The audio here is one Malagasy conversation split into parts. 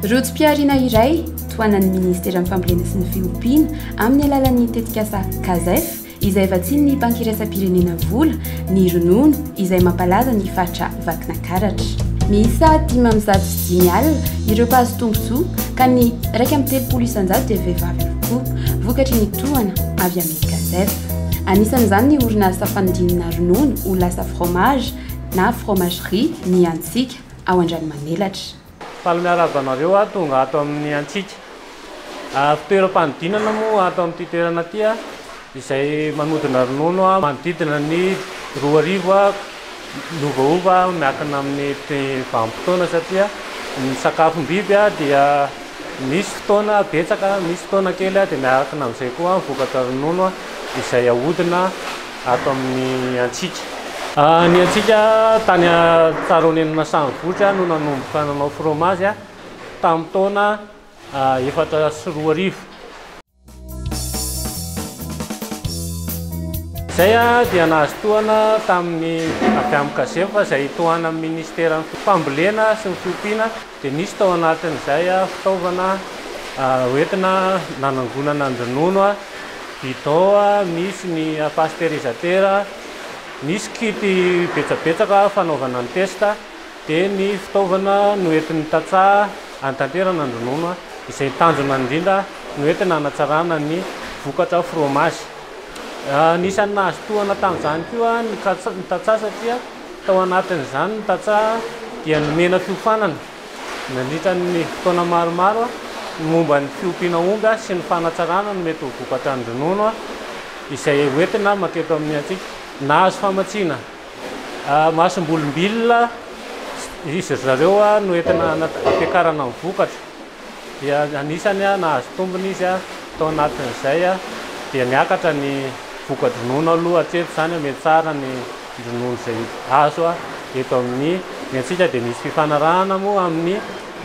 Rojo-pihariana iray tohanan'ny Ministeran'ny Fambolena sy ny Fiompiana amin'ny alalan'ny tetikasa CASEF izay vatsian'ny Banky Iraisam-pirenena vola ny ronono izay mampalaza ny faritra vakina karatra. Miisa dimy amby zato sy dimy alina ireo mpahazo tombontsoa ka ny iraika amby telopolo isan-jato dia vehivavy avokoa, vokatry ny tohana avy amin'ny Casef. Anisan'izany ny orinasa fanodinana ronono ho lasa fromage na fromagerie ny Antsika ao Andranomanelatra. Faly miarahaba anareo aho tonga ato amin'ny antsika fitoeram-panodinana moa ato amin'ity toerana ity izay manodina ronono manodidina ny roa arivo miovaova miankina amin'ny vanim-potoana satria ny sakafom-biby dia misy fotoana betsaka misy fotoana kely dia miankina amin'izay koa vokatra ronono izay ahodina ato amin'ny antsika. Ny antsika tany Tsaroneny Masahavohitra no nanomboka nanao fromazy tamin'ny taona efatra sy roa arivo. Izay dia nahazo tohana tamin'ny avy amin'ny Casemfa izay tohanan'ny Minisiteran'ny Fambolena sy ny Fiompiana dia nisy tao anatin'izay fitaovana hoentina nanangonana ny ronono, bidon misy ny pasteurisateurs, nisy kit betsabetsaka fanaovana ny test, dia ny fitaovana noentin'ny tantsaha hanatanterana ny ronono, izay tanjona indrindra noentina hanatsarana ny vokatra fromazy. Anisan'ny nahazo tohana tamin'izany koa ny tantsaha satria Tao anatin'izany ny tantsaha dia nomena fiofanana nandritra ny fotoana maromaro ny momba ny fiompiana omby sy ny fanatsarana ny mety ho vokatran'ny ronono izay hoentina maketo amin'ny antsika. Nahazo famatsiana masombolombilona izy ry zareo noentina hampiakarana ny vokatra. dia anisany nahazo tombony izy tao anatin'izay dia niakatra ny voka-dronono aloha hatreto izany mety tsara ny dronono izay azo eto amin'ny ny antsika dia misy fifanarahana moa amin'ny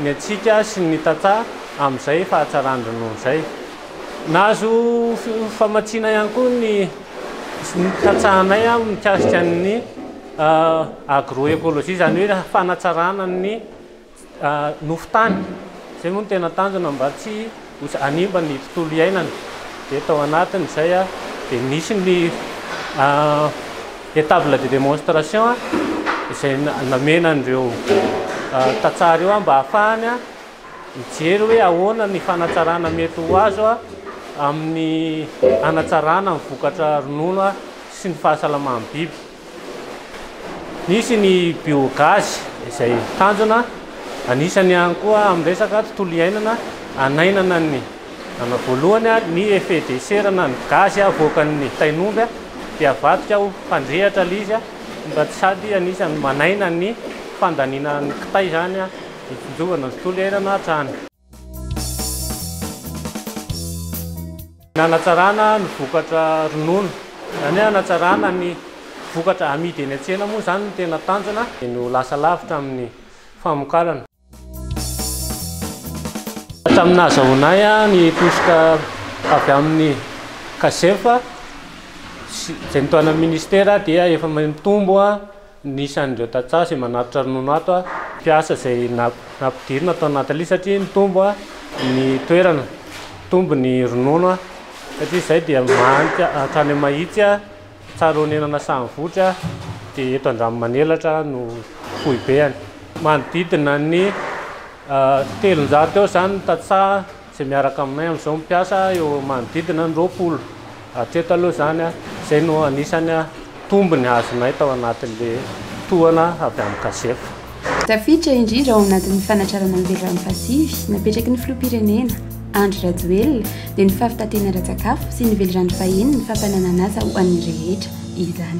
ny antsika sy ny tantsaha amin'izay fahatsaran-dronono izay nahazo famatsiana ihany koa ny tantsahanay aho mikasika ny agroecologie izany hoe fanatsarana ny nofo tany, izay moa no tena tanjona mba tsy ho hanimba ny tontolo iainana, dia tao anatin'izay dia nisy ny étable de démonstration izay namena an'ireo tantsaha ireo mba hahafahany mijery hoe ahoana ny fanatsarana mety ho azo amin'ny hanatsarana ny vokatra ronono sy ny fahasalaman'ny biby. Misy ny biogaz izay tanjona anisany ihany koa amin'ny resaka tontolo iainana hanainana ny ana voalohany a, ny effet de serre na ny gaz avoakan'ny tain'omby dia avadika ho mpandrehitra ilay izy a, mba sady anisany manaina ny fandaniana ny kitay izany a, ny findrovana ny tontolo iainana hatrany. Ny hanatsarana ny vokatra ronono, izany hoe hanatsarana ny vokatra amidy eny an-tsena moa izany no tena tanjona dia ny ho lasa lavitra amin'ny famokarana. Hatramin'ny nahazahoanay ny tosika avy amin'ny Casef, izay notohanan'ny Ministera dia efa mitombo. Ny isan'ireo tantsaha izay manatitra ronono ato mpiasa izay nampidirina tao Nathalie satria nitombo ny toerana, nitombo ny ronono satria izay dia mahantra hatrany Mahitsy, Tsarahonenana Sahavohitra dia eto Andranomanelatra no foibeny. Manodidina ny telonjato eo izany ny tantsaha. Izay miaraka aminay amin'izao mipiasa eo manodidina ny roapolo hatreto aloha izany. Izay no anisan'ny tombony azonay tao anatin'ilay tohana avy amin'ny Cagefa. Tafiditra indrindra ao anatin'ny fanatrarana ny vehivavy mpasivy napetraky ny filoham-pirenena, Andry Rajoelina, dia ny fahavitan-tena ara-tsakafo sy ny velirano fahiny ny fampananan'asa ho an'ny rehetra izany.